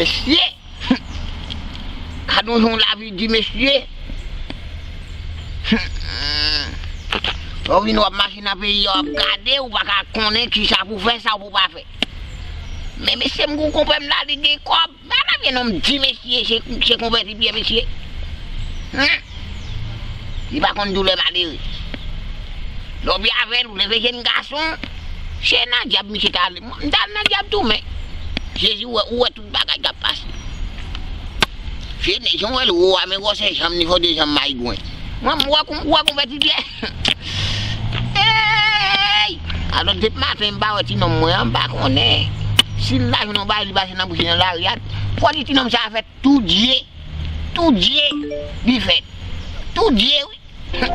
Mesye! Gadon jan lavi di mesye! Lè w vin w ap mache nan peyi yo ap gade w, ou pa ka konnen kisa pou w fè, sa pou w pa fè. Men mesye m gen yon konpè m la li gen kòb. Ba mwen vye nom di mesye che konvèti pyè mesye humm li pa konn doulè malere lè w byen avèl ou leve jèn gason che nan dyab misye ta ale mwen m tal nan dyab tou men jezi wè ou wè tout bagay kap pase che nèg jan w wèl wo a men gwòsè janm ni fò 2 janm mayigwen mwen m wè konvèti pyè. Humm eeyy Alon dep maten m pa wè ti nonm mwen an m pa konnen sil ta jwenn yon bagay li pase nan bouch li nan lari a fò di ti nonm sa fè tou dye tou dye li fè tou dye wi humm.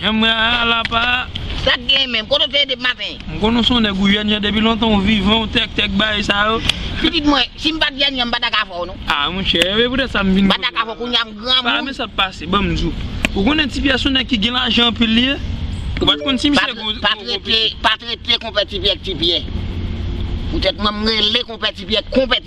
Janm wè a a la pa a. Sak gen menm? Kote w te ye depi maten? M konnen w son nèg ou yanyàn depi lontan ou vivan ou tèk tèk bagay sa yo. Pitit mwen, si m pat yanyàn m pata ka fè w non. A monchè, e poutèt sa m vin kote w la. M pata ka fè w kounya m granmoun. Pa men sak pase, ban m di w. Ou konnen Ti Pyè son nèg ki gen lajan anpil li ye? Ou pat konn si misye gen yon gwo pitit. Pa trete konpè Ti Pyè ak Ti Pyè. Poutèt mwen m rele konpè Ti Pyè konpè.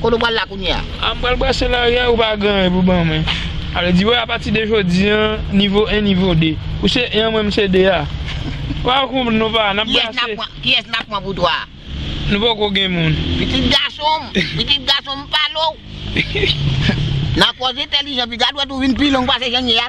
Kote ou pral la kounye a? A m pral brase larye ou pa gen anyen pou ban mwen. A vle di wè apati de jodi an nivo 1 nivo 2. Ou se 1 mwen m se 2 a. Wap konprann non pa nap brase. Kiyès nap pran pou 3 a? Nou poko gen moun. Pitit gason m, pitit gason m pale w. Nan koz entelijan pi gad wèt ou vin pi long pase jan n ye a.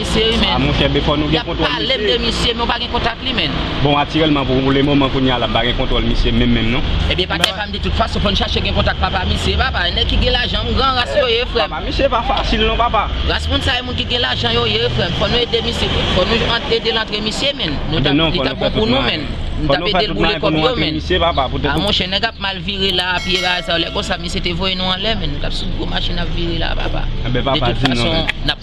Mesye wi men. Ah mon chè befò nou gen kontwòl misye. Yap palem de misye men ou pa gen kontak li menn. Bon atirèlman pou le moman kounya la mpa gen kontwòl misye menm menm non. Ebyen patnè pam de tout fason fòn chache gen kontak papa misye papa nèg ki gen lajan m gran ras yo ye frèm. Papa misye pa fasil non papa. Ras moun sa e moun ki gen lajan yo ye frèm fòn nou ede misye fòn nou ant edel antre misye menn nou tap li tap bon pou nou menn nou tap edel boule kòb yo menn ah mon chè nèg ap mal vire la a pye aza lè konsa misye te voye nou anlè menn nou tap sou gwo machin ap vire la a papa de tout fason nap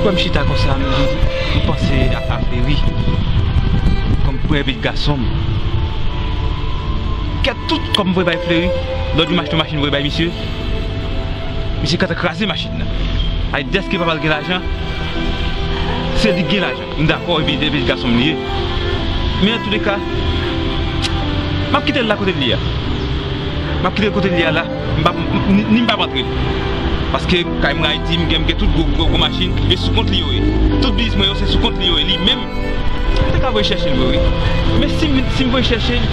Kouwèm chita konsa m panse ak aferi Kòm premye pit gason m Kè tout kòm m voye bay fleri Lòd m achte yon machin voye bay misye Misye kantan kraze machin nan Ay deske papa l gen lajan Se li k gen lajan. M dakò epi depi l gason m li ye men antoulèka m ap kite l la kote l ye a m ap kite l kote l ye a la m pa ni m pa ap antre paske kay mwen Ayiti m gen tout gwo machin e sou kont li yo ye tout biznis mwen yo se sou kont li yo ye li menm m ta ka voye chèche l vre wi men si m voye chèche l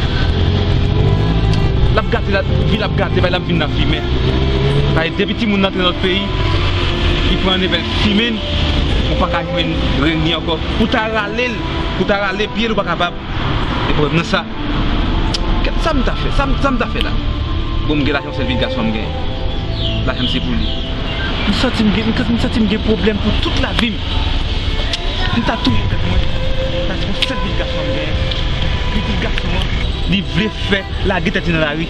l ap gate vi l ap gate bay l ap vin nan fimen paske depi timoun nan antre nan lòt peyi li pran neve l fimen Ou pa ka jwenn grenn li ankò. Ou ta rale l, ou ta rale pye l ou pa kapab. E prèv nan sa? Sa m ta fè? Sa m ta fè la? Bon m gen lajan sèl pitit gason m genyen. Lajan m se pou li. M santi m gen, m santi m gen pwoblèm pou tout lavi m. M ta touye tèt mwen paske sèl pitit gason m genyen. Pitit gason an li vle fè lage tèt li nan lari.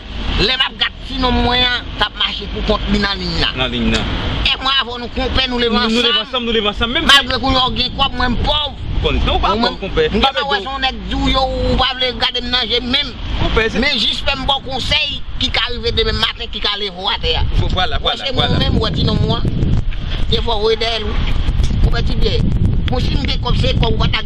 Lè map gad ti nonm mwen an kap mache pou kont li nan liy nan. Nan liy nan. E mwen avè w nou konpè nou leve ansanm. Nou leve ansanm nou leve ansanm menm si. Malgre kou yon gen kòb mwen m pòv. Konn sa w pa pòv konpè. M gentan wè son nèg di w yo ou pa vle gade m nan je menm. Konpè se. Men jis fè m ba w konsèy ki ka rive demen maten ki ka leve w atè a. Vwala vwala. Wè se mwen menm wè ti nonm mwen an. Defo w voye dèyè l wi. Konpè ti byè. Bon si m gen kòb se kòb ou pa ta.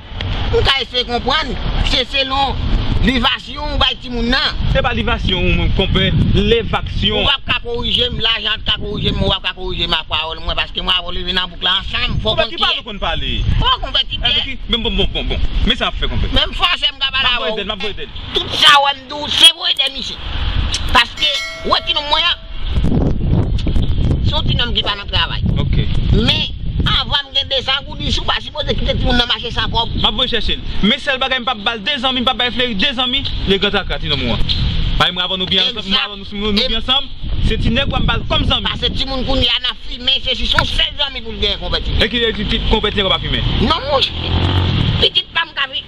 M ka eseye konprann, se selon livasyon ou bay timoun nan. Se pa livasyon ou menm konpè, levasyon. Ou pap ka korije m, lajan an t ka korije m, ou pap ka korije m ak pawòl mwen paske mwen avè w leve nan bouk la ansanm, fò w konn kiyè. Konpè ki pale w konn pale. Bon konpè ti Pyè. Men bon bon bon bon, men sa w ap fè konpè. Menm fòse m ka pale avè w. M ap voye dèl, m ap voye dèl. Tout sa w wè m di w se voye dèl misye. Paske wè ti nonm mwen an. Son ti nonm ki pa nan travay. Ok. Men Avanm gen 200 goudis ou pa sipoze kite timoun nan mache san kob. Map voye chèche l. Men sèl bagay m pap bal de zanmi m pap bay fleri de zanmi le gran traka ti nonm ou an. Bay mwen avan nou byen ansanm mwen avan nou nou byen ansanm se ti nèg ou a m bal kòm zanmi. Pase timoun kounye a nan fimen se si son sèl zanmi pou l genyen konpè ti nèg. E ki konpè ti nèg ou pa fimen. Non mwen. Pitit pam ka fi.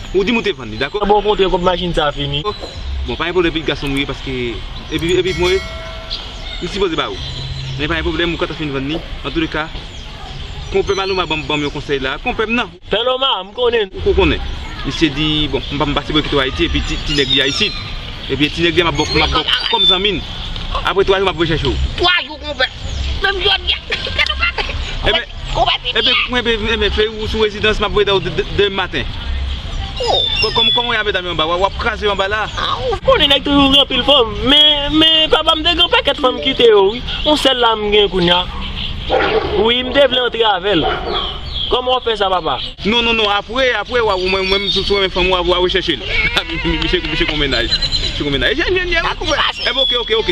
Ou dim ou te vann li dako. Bon kote kob machine sa fini. Bon pa gen pwoblem pitit gason m ou ye paske epi epi pou mwen m sipoze ba ou men pa gen pwoblem ou ka ta fin vann li antoulèka konpè Maluma banm banm yon konsèy la konpè m nan. Paloma m konnen. Ou ko konnen. Misye di bon m pa m pa sipoze kite w Ayiti epi ti nèg li a isit epi ti nèg li a m ap ba w m ap ba w kòm zanmi n aprè 3 jou m ap vwe chèche w. 3 jou konpè menm jodi a gade yon bagay. Ou pa pi byen. Mwen pi byen men feyou ou sou rezidans map weta ou demen maten. Ou. Kòman ou ye a medam yo anba wa wap kraze yo anba la. A ou konnen nèg toujou gen anpil fanm men men papa m te gen pakèt fanm m kite yo wi yon sèl la m gen kounya wi m te vle antre avèl kòman wap fè sa papa. Non non non apre apre wa ou mwen mwen m sou renmen fanm wa wa rechèche l misye misye gon mennaj misye gon mennaj e jèn jèn jèn wi kouwè epi ok ok ok.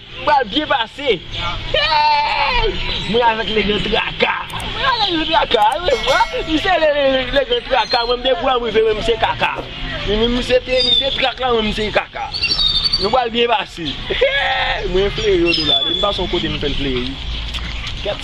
M pral byen pase Hey Mwen avèk leGran Traka Mwen avèk leGran Traka Ou wè vwa M se leGran Traka Mwen mte pran rive Mwen se kaka Mwen mse te mse trak la Mwen mse kaka Nou pral byen pase Hey Mwen fleyo nou la Depi m pase yon kote m fè l fleyo wi.